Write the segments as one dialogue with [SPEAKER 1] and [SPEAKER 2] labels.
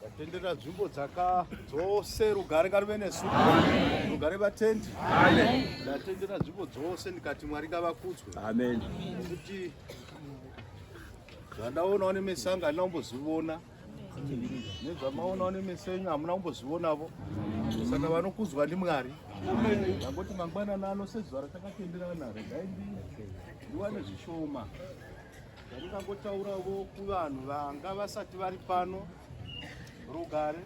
[SPEAKER 1] Tatendera nzvimbo dzaka dzose rugare ngaruve nesu rugare vatendi ndatendera nzvimbo dzose ndikati mwari ngavakudzwe amen
[SPEAKER 2] nekuti
[SPEAKER 1] zvandaonawo nemeso angu handina kumbozvivona nezvamaonawo nemeso enyu hamuna kumbozvivonavo saka vanokudzwa ndimwari ndangoti mangwanana ano sezuva ratakatenderana redai ndiwane zvishoma Ndingangotauravo kuvanhu vanga vasati vari pano rugare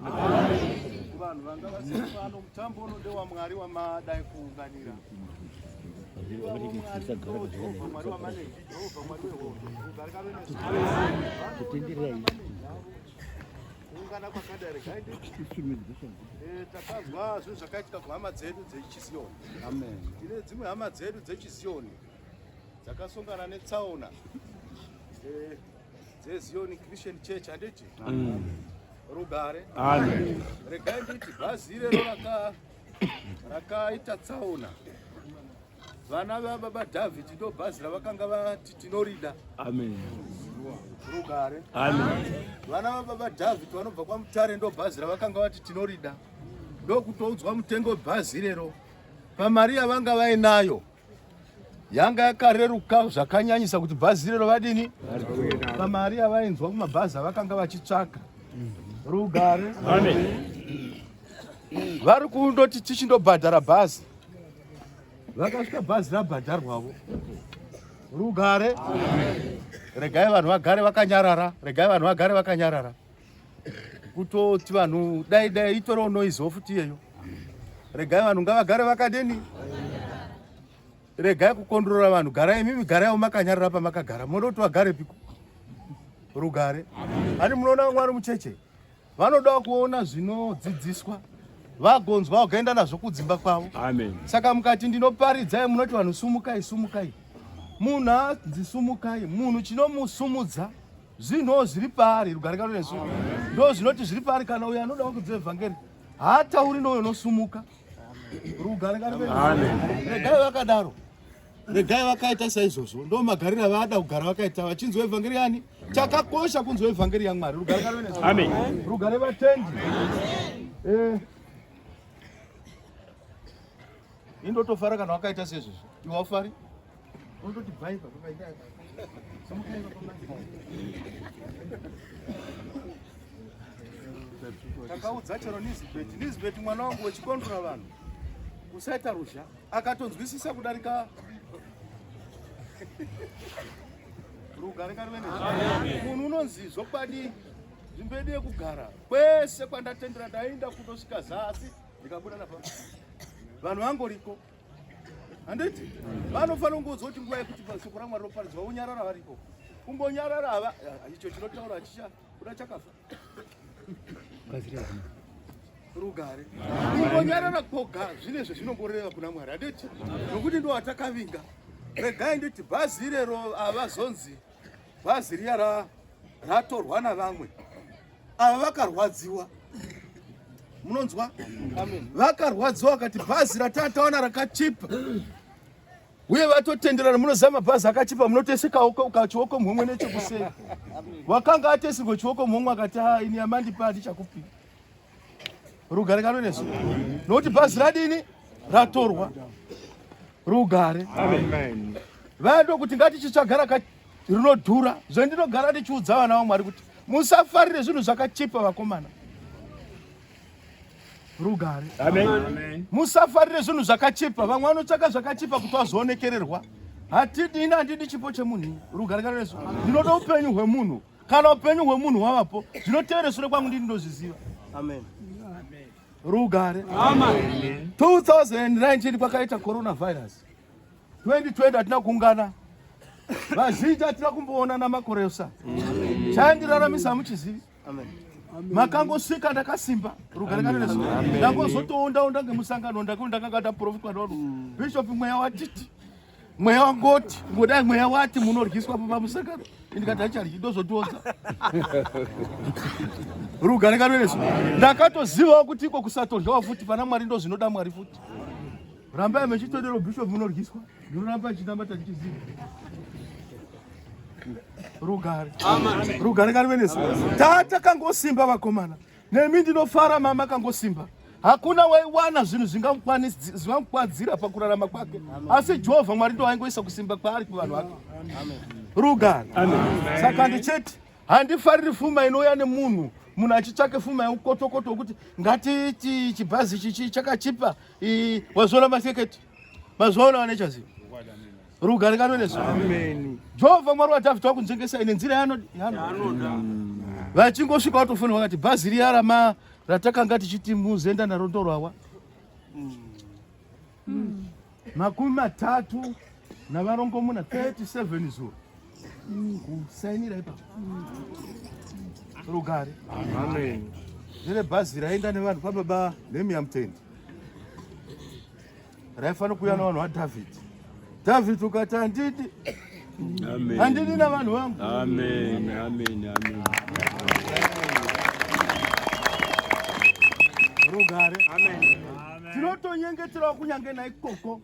[SPEAKER 1] kuvanhu vanga vasati pano mutambo uno ndewamwari wamadai kuunganira kuungana kwakadari takazwa zvinhu zvakaitika kuhama dzedu dzechiziyoni tine
[SPEAKER 2] dzimwe hama
[SPEAKER 1] dzedu dzechiziyoni dzakasongana netsaona eh, dzezioni christian church handiti mm. rugare
[SPEAKER 2] regai nditi
[SPEAKER 1] bhazi irero rakaita tsaona vana vababa david ndo bhazi ravakanga vati tinorida rugare
[SPEAKER 2] vana vababa
[SPEAKER 1] david vanobva kwamutare ndo bhazi ravakanga vati tinorida ndokutoudzwa mutengo bhazi irero pamari yavanga vainayo yanga yakareruka zvakanyanyisa kuti bhazi irero vadini pamari yavainzwa kumabhazi avakanga vachitsvaka rugare vari kundoti tichindobhadhara bhazi vakasvika bhazi rabhadharwavo rugare regai vanhu vagare vakanyarara regai vanhu vagare vakanyarara kutoti vanhu dai dai itorewo noise futi iyeyo regai vanhu ngavagare vakadini regai kukondorora vanhu garai imimi garaiwo makanyarara pamakagara moda kuti vagare piko rugare ani munoona vamwe vari mucheche vanodawo kuona zvinodzidziswa vagonzwa vakaenda nazvo kudzimba kwavo saka mukati ndinoparidzai munoti vanhu sumukai sumukai munhu anzi sumukai munhu chinomusumudza Zvinhu zviri paari rugare kano nesu. Ndo zvinoti zviri paari kana uyo anoda kudze evangeri. Haatauri noyo nosumuka. Rugare kano nesu. Amen. Regai
[SPEAKER 2] vakadaro.
[SPEAKER 1] Regai vakaita saizvozvo. Ndo magarira vada kugara vakaita vachinzwa evangeri yani. Chakakosha kunzwa evangeri yaMwari. Rugare kano nesu. Amen. Rugare
[SPEAKER 2] vatendi.
[SPEAKER 1] Amen. Eh. Indotofara kana wakaita sezvizvo. Iwafari. Unototi bhaipa pakaita somukaiva takaudza chero nisbet nisbet mwana wangu wechikondora vanhu usaita ruzha akatonzwisisa kudarika rugare karuvene munhu unonzi zvokwadi nzvimbo yedu yekugara kwese kwandatendera ndainda kundosvika zasi ndikabuda napa vanhu vangoriko handiti vanofanira kungoudza kuti nguva yekuti shoko ramwari roparidzwa vonyarara varipo kumbonyarara hava icho chinotaura hachicha kuda chakafa rugare kumbonyarara koga zvine zvezvinongoreva kuna mwari handiti nokuti ndo watakavinga regai nditi bhazi irero havazonzi bhazi riya ra ratorwa navamwe ava vakarwadziwa munonzwa vakarwadziwa vakati bhazi ratataona rakachipa uye vatotenderana munoziva mabhazi akachipa munotesekawo ukachioko mhomwe nechekuseri wakanga atesirwa chioko mhomwe akati ha ah, ini amandipa handichakupira rugare ngano nesu nokuti bhazi radini ratorwa rugare
[SPEAKER 2] vaya ndokuti
[SPEAKER 1] ngatichitsvagara ka rinodhura zvendinogara ndichiudza vana vamwari kuti musafarire zvinhu zvakachipa vakomana rugare
[SPEAKER 2] musafarire zvinhu
[SPEAKER 1] zvakachipa vamwe vanotsvaka zvakachipa kuti vazoonekererwa hatidini handidi chipo chemunhu rugare ngano nesu ndinoda upenyu hwemunhu kana upenyu hwemunhu hwavapo zvinotevere sure kwangu ndini ndozviziva amen rugare 2019 kwakaita coronavirus 2020 hatina kuungana vazhinji hatina kumboona namakoreosa chaindiraramisa hamuchizivi makangosvika ndakasimba rugare kana nesu ndangozotoondaonda ngemusangano ndakanga ndaprofitwa navo bishop mweya watiti mweya wangoti ngodai mweya wati munoryiswa pamba musakaro ndikati acharyi ndozotiodza rugare karesu ndakatozivawo kuti iko kusatoryawa futi pana mwari ndo zvinoda mwari futi rambai mechitodero bishop munoryiswa ndinoramba chitamba tatichiziva rugare rugare karesu tatakangosimba vakomana Nemi ndinofara mama kangosimba hakuna waiwana zvinhu zvingamukwadzira pakurarama kwake asi jehovha mwari ndo waingoisa kusimba kwaari kuvanhu vake rugano saka ndichete handifariri fuma inouya nemunhu munhu achitsvake fuma yeukotokoto wekuti ngatiti chibhazi chichi chakachipa wazviona maseketi mazviona vanechaziva rugare ngano nezvo jehovha mwari wadhavhidha wakunjengesai nenzira yaanoda vachingosvika watofonera vakati bhazi riya rama ratakanga tichiti muzoenda naro ndorwawa hmm. makumi matatu navarongomuna 37 zuro kusainira ipapo rugare
[SPEAKER 2] ndere bhazi
[SPEAKER 1] raenda nevanhu kwababa nemiyamutende raifanira kuuya navanhu vadhavhidhi dhavhidhi ukati handidi
[SPEAKER 2] handidi navanhu vangu
[SPEAKER 1] rugare tinotonyengeterawo kunyange naikoko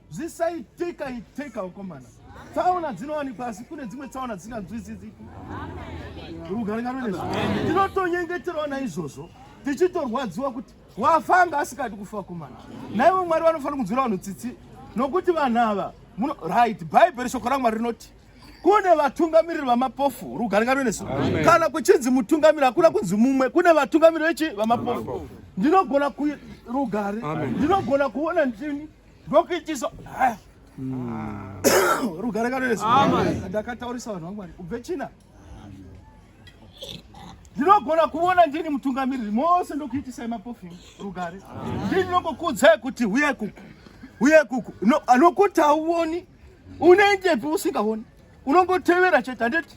[SPEAKER 1] zvisaitika itika ukomana tsaona dzinowanikwa asi kune dzimwe tsaona dzisinganzwisisiki rugare nganoe tinotonyengeterawo naizvozvo tichitorwadziwa kuti wafa anga asikadi kufa kumana naivo mwari vanofanira kunzwira vanhu tsitsi nokuti vanhu ava muno right bhaibheri shoko ramwari rinoti kune vatungamiriri vamapofu rugarika rwenesu kana kuchinzi mutungamiri hakuna kunzi mumwe kune vatungamiriri vechi vamapofu ndinogona ku rugare ndinogona kuona ndini ndokuitisa hmm. rugare kanonesu ndakataurisa vanhu vamwari ubve china ndinogona kuona ndini mutungamiriri mose ndokuitisai mapofini rugare ndini ndinongokuudzai kuti huye kuku huye kuku nokuti hauoni unoendepi usingaoni unongotevera chete handiti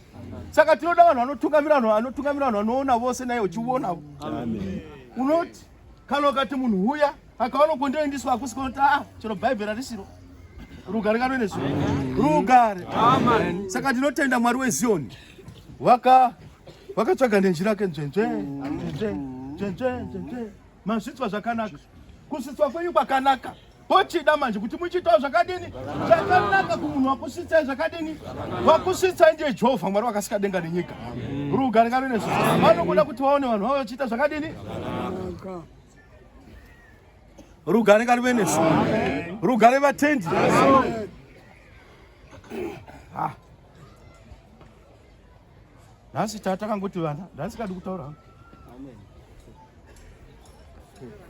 [SPEAKER 1] saka tinoda vanhu vanotungamira vanhu vanotungamira vanhu vanoona vose naye uchiuonavo unoti kana ukati munhu huya Akaona kwandinoendiswa hakusi koti ah chero bhaibheri harisiro rugare kano ine zvo rugare. Saka ndinotenda Mwari weZioni waka wakatsvaga nenjira yake nzvenzve nzvenzve nzvenzve nzvenzve mazvitswa zvakanaka kusvitswa kwenyu kwakanaka pochida manje kuti muchiitawo zvakadini zvakanaka kumunhu wakusvitsai zvakadini wakusvitsai ndiye jehovha mwari wakasika denga nenyika rugare kano ine zvo vanokuda kuti vaone vanhu vavo vachiita zvakadini rugare ngarive nesu rugare vatendi ah. nhasi taa takangoti vana nhasi kadi kutaura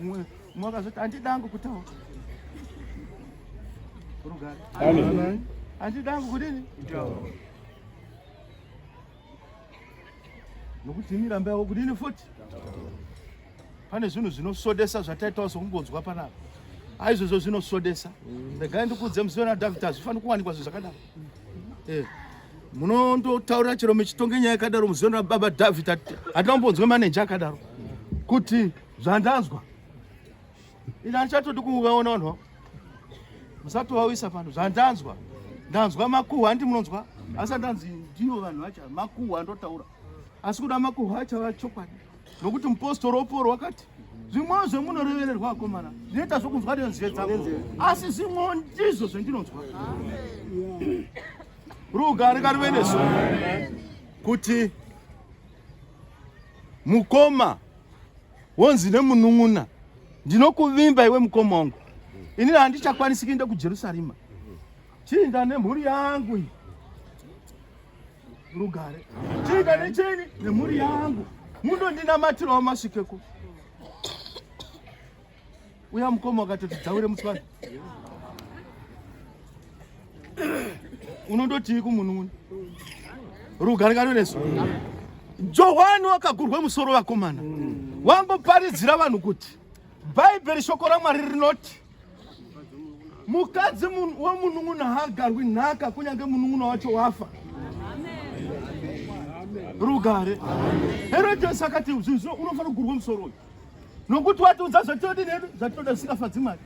[SPEAKER 1] umwe umwe akazoti handidangu kutaura rugare handidangu kudini nokuti ini rambe yako kudini futi pane zvinhu zvinosodesa zvataitawo sokumbonzwa panapa aizvozvo zvinosodesa regai ndikuudze musi wena david hazvifaniri kuwanikwa zvinhu zvakadaro eh, munondotaurira chero muchitonge nyaya yakadaro musi wena baba david hatina kumbonzwa maneja akadaro kuti zvandanzwa Ini anichatodi kuvaona vanhu vavo. Musatovauyisa pano zvandanzwa. Ndanzwa makuhwa handi munonzwa? Asi handanzi ndivo vanhu vacho makuhwa ndotaura. Asi kuda makuhwa acho ava chokwadi. Nokuti mupostori woporo wakati zvimwewo zvemunorevererwa akomana zvinoita zvokunzwa nenzeve dzangu asi zvimwewo ndizvo zvendinonzwa rugare karuve nesu kuti mukoma wonzi nemunun'una ndinokuvimba iwe mukoma wangu inini handichakwanisi kuenda kujerusarema chiinda nemhuri yangu iyi rugare chiinda necheni nemhuri yangu mundondinamatirawo masvikeko Uya mukoma wakatoti dzaure muswani. Unondotii kumunhu uno? Rugare kano nesu. Johwani wakagurwa musoro vakomana. Wamboparidzira vanhu kuti Bhaibheri shoko raMwari rinoti mukadzi wemunun'una haagarwi nhaka kunyange munun'una wacho wafa rugare herodes akati zvinhu zvino unofanira kugurwa musoro uyu nokuti watiudza zvatinoda nedu zvatinoda zvisingafadzi mwari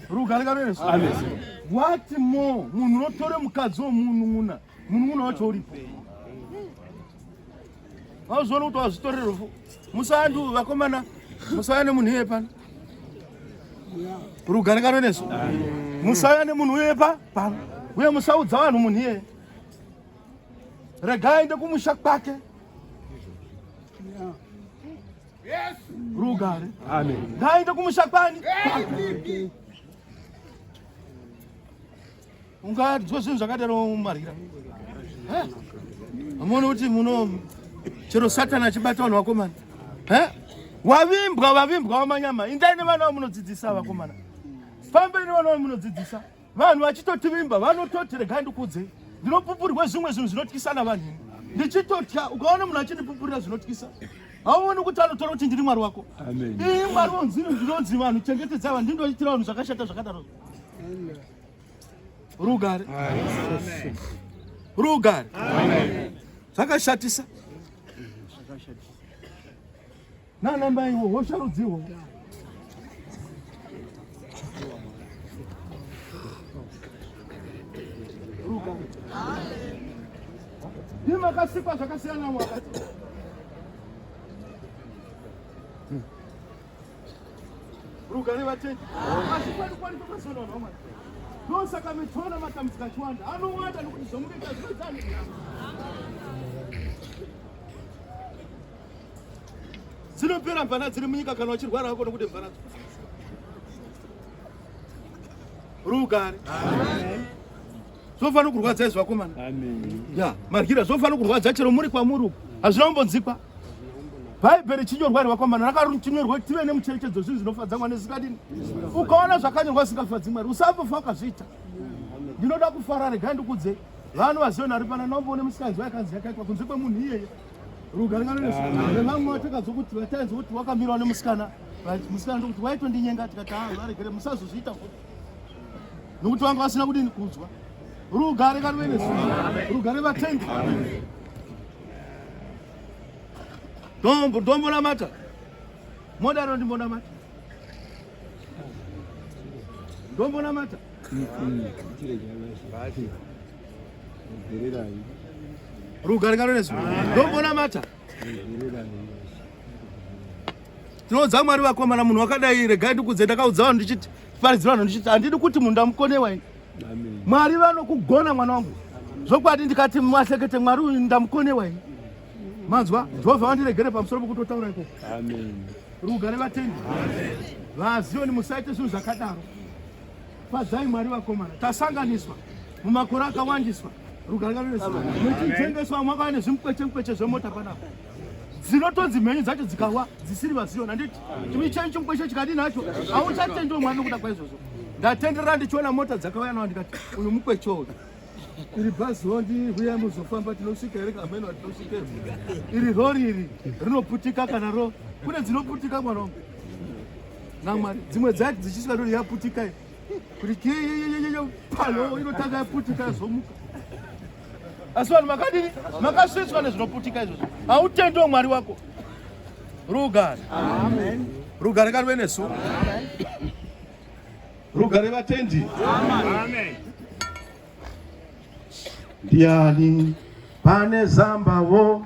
[SPEAKER 1] rugare karoesu wati mo munhu unotore mukadzi womunun'una munun'una wacho uripei vauzviona kuti wazvitorere rufu musaandi uyu vakomana musauya nemunhu iye pano rugare karoesu musauya nemunhu uye pa pano uye musaudza vanhu munhu iye rega aende kumusha kwake rugare ngaaende
[SPEAKER 2] kumusha
[SPEAKER 1] kwani ungadzo zvinhu zvakadaro mumarira amuone kuti muno chero satani achibata vanhu vakomana wavimbwa vavimbwa wamanyama indai nevana vamunodzidzisa vakomana fambei nevana vamunodzidzisa vanhu vachitotivimba vanototi regai ndikuudzei ndinopupurirwa zvimwe zvinhu zvinotyisa navanhu ndichitotya ukaona munhu achindipupurira zvinotyisa hauoni kuti anotora kuti ndiri mwari wako ii mwari
[SPEAKER 2] vonzini
[SPEAKER 1] ndinonzi vanhu chengetedza vanhu ndindoitira vanhu zvakashata zvakadaro rugare rugare zvakashatisa nana maiwo hosharudziwo ni makasikwa zvakasiyana mwaka rugare vatendi asi kwani kwani kwakasiyana vanhu vamwari ndosaka mitoona matambudziko achiwanda anowanda nokuti zvomunoita zvinozani dzinopera mvana dziri munyika kana wachirwara wako nokuti mvana dzo rugare zvofanira kurwadza izvi vakomana ya
[SPEAKER 2] maryira
[SPEAKER 1] zvofanira kurwadza chero muri kwamuri uku hazvina kumbonzikwa bhaibheri chinyorwa ri vakomana rakatinyorwa tive nemucherechedzo zvinhu zvinofadza mwari zvisingadini ukaona zvakanyorwa zvisingafadzi mwari usambofa ukazviita ndinoda kufara regai ndikudzei vanhu vaziona ari pana nomboone musikanzi waikanzi yakaitwa kunze kwemunhu iyeye vamwe vatakazwa kuti vatainzwa kuti wakamirwa nemusikana musikana ndokuti waitondinyenga tikati ha varegere musazozviita futi nokuti vanga vasina kudini kunzwa rugare karuvenesu rugare vatendi dombo dombo namata modaro ndimbo namata dombo namata rugare nganonesu ndombona mata tinoudza mwari vakomana munhu wakadai regai ndikudze ndakaudza vanhu ndichiti paridzi vanhu ndichiti handidi kuti munhu ndamukonewa ini mwari vanokugona mwana wangu zvokwadi ndikati masekete mwari uyu ndamukonewa ini manzwa jehovha vandiregere pamusoro pokutotaura ikoko rugare vatendi vazioni musaite zvinhu zvakadaro fadzai mwari vakomana tasanganiswa mumakore akawandiswa rugare ngaruvesuwa muchitengeswa mwaka vane zvimukwete mukweche zvemota panapa dzinotonzi mhenyu dzacho dzikawa dzisiri vaziona handiti chimicheni chimukweshe chikadii nacho hauchatendiwo mwari nokuda kwaizvozvo ndatenderera ndichiona mota dzakauya nawo ndikati uyu mukweche uyu iri bhazi hondi huya muzofamba tinosvika here kameno hatinosvike iri rori iri rinoputika kana ro kune dzinoputika mwana wangu namwari dzimwe dzati dzichisvika rori yaputika Kuti palo inotanga yaputika yazomuka. Asi vanhu makadini? Makasvetswa nezvinoputika izvozvo. Hautendewo Mwari wako. Rugare. Amen. Rugare karuve nesu. Amen. Rugare vatendi. Amen. Ndiani pane zambavo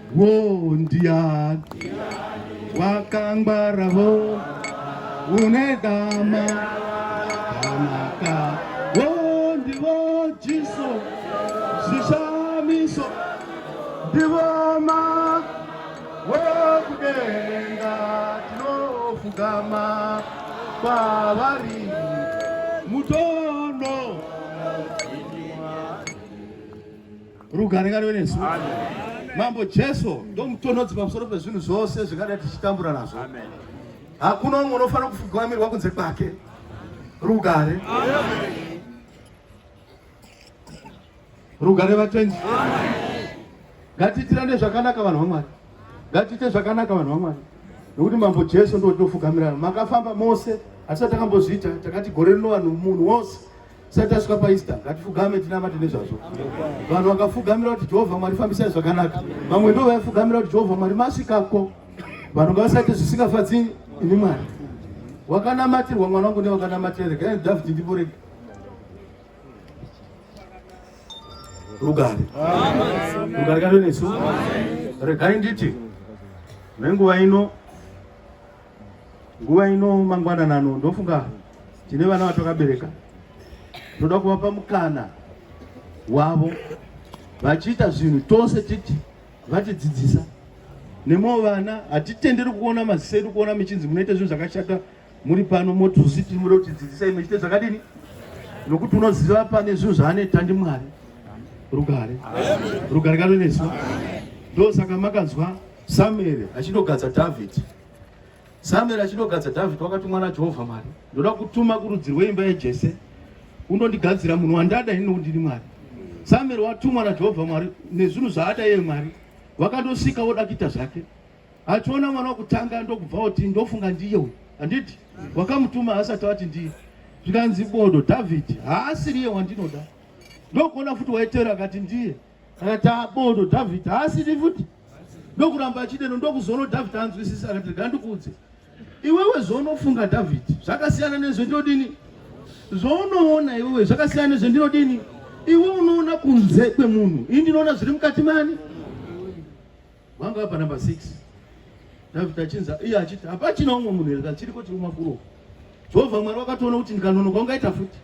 [SPEAKER 1] Wo ndiani wakangwara wo une dama kanaka wo ndivo jiso zvishamiso ndivo ma wokudenga tinofugama kwavari muto Rugare ngarive nesu. Mambo Jesu ndomutonhodzi pamusoro pezvinhu zvose zvingadai tichitambura nazvo. Hakuna umwe unofanira kufugamirwa kunze kwake. Rugare. Rugare vatendi. Ngatiitirane zvakanaka vanhu vaMwari. Ngatiite zvakanaka vanhu vaMwari. Nokuti Mambo Jesu ndotofugamirana. Makafamba mose asi atakambozviita takati gore rino vanhu munhu wose Tisati tasvika paEaster, ngatifugame tinamate nezvazvo. Vanhu vakafugamira kuti Jehovha Mwari fambisai zvakanaka. Vamwe ndivo vaifugamira kuti Jehovha Mwari masvikako. Vanhu ngavasaite zvisingafadzi ini Mwari. Wakanamatirwa mwana wangu newakanamatira rega Dhavhidhi ndipo rega. Rugare. Rugare kave nesu. Regai nditi nenguva ino Nguva ino mangwanana ano ndofunga tine vana vatakabereka toda kuvapa mukana wavo vachiita zvinhu tose titi vatidzidzisa nemo vana hatitenderi kuona maziso edu kuona michinzi munoita zvinhu zvakashata muri pano motuzi tiri muda kutidzidzisa imwe chite zvakadini nokuti unoziva pane zvinhu zvaaneta ndi mwari rugare rugare kanonesu ndosaka makanzwa Samueri achinogadza Dhavhidhi. Samueri achinogadza Dhavhidhi wakatumwa naJehovha Mwari, ndoda kutuma kurudzi rweimba yaJese unondigadzira munhu wandada ini nokuti ndini Mwari. Samueri watumwa naJehovha Mwari nezvinhu zvaada iye Mwari, wakandosvika woda kuita zvake. Achiona mwana wokutanga ndokubva oti ndofunga ndiye uyu, handiti? Wakamutuma asati ati ndiye. Zvikanzi bodo, Dhavhidhi haasiriye wandinoda. Ndokuona futi waitera akati ndiye. akati abodo dhavhidhi haasini futi ndokuramba achideno ndokuzono dhavhidhi anzwisisa akati rega ndikuudze iwewe zvounofunga dhavhidhi zvakasiyana nezvendodini zvounoona iwewe zvakasiyana nezvendinodini iwe unoona kunze kwemunhu ini ndinoona zviri mukati mani Vanga vapa number 6. David achinza iye achiti hapachina umwe munhu here chiriko chiri kumafuro. Jehovha Mwari wakatoona kuti ndikanonoka ungaita futi.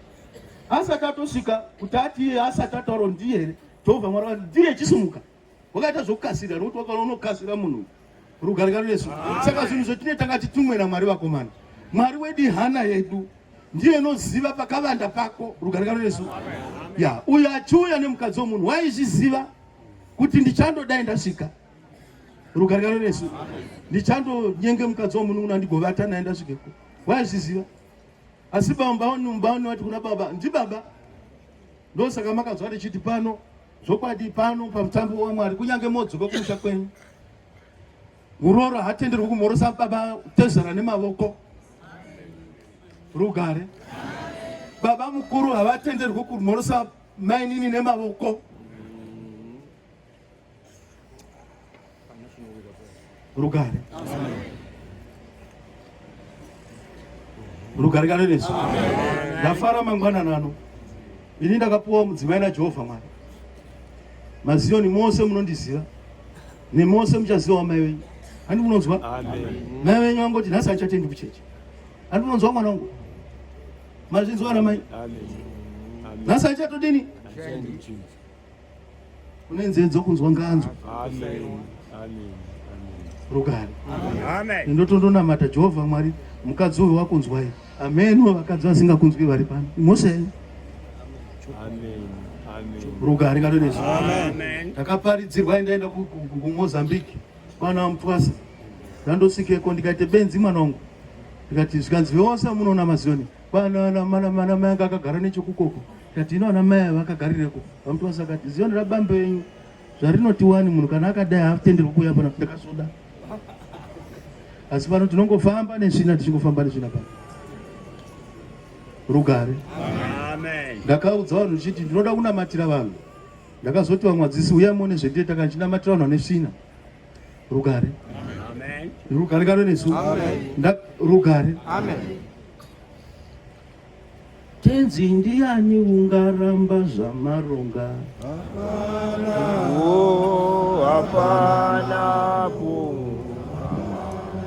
[SPEAKER 1] Asati atosvika kuti ati iye asati ataura ndiye here. Jehovha Mwari wakati ndiye chisimuka. Wakaita zvokukasira nokuti wakaona unokasira munhu. Rugare ngaro nesu. Saka zvinhu zvetine tanga titumwe naMwari vakomana. Mwari wedi hana yedu ndiye anoziva pakavanda pako. Rugare ngaro nesu. Ya, uyo achiuya nemukadzi womunhu waizviziva kuti ndichandodai ndasvika rugarikano nesu ndichandonyenge mukadzi wamunun'una ndigovata naye ndasvikeko waizviziva asi bambabaone vati kuna baba ndibaba ndosaka makazwa tichiti pano zvokwadi pano pamutambo wamwari kunyange modzoka kumusha kwenyu muroora hatenderwi kumhorosa baba tezera nemavoko rugare baba mukuru havatenderwi kumhorosa mainini nemavoko rugare rugare kana nesu ndafara mangwana nano ini ndakapuwa mudzimai najehovha mwari maziyoni mose munondiziva nemose muchaziva wamai wenyu handi munonzwa mai wenyu vangoti nhasi achatendi kucheche handi munonzwa mwana wangu Mazvinzwa ana mai? Nhasi haichatodini? Une nzeve dzokunzwa nganzwa. Rugare. Ndotondonamata Jehovha Mwari mukadzi uyu wakunzwai. Amen. Vakadzi vasingakunzwi vari pano. Mose. Amen. rugare ngalo nezvi takaparidzirwa endaenda kumozambique Mwana wamutwasa ndandosvikeko ndikaite benzi mwana wangu ndikati zvikanzi veose amunoona maziyoni kwanamana mai anga akagara nechokukoko ndikati ino ana mai ava akagarireko vamutwasa akati ziyoni rabambe yenyu zvarinoti wani munhu kana akadai haatenderwe kuuya pana ndakazoda asi pano tinongofamba nesvina tichingofamba nesvina pano rugare ndakaudza vanhu zvichiti ndinoda kunamatira vanhu ndakazoti vamwadzisi uya mone zvendie taka ndichinamatirwa vanhu vane svina rugare rugare kano nesu rugare tenzi ndiyani ungaramba zvamaronga hapana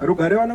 [SPEAKER 2] Rugare vana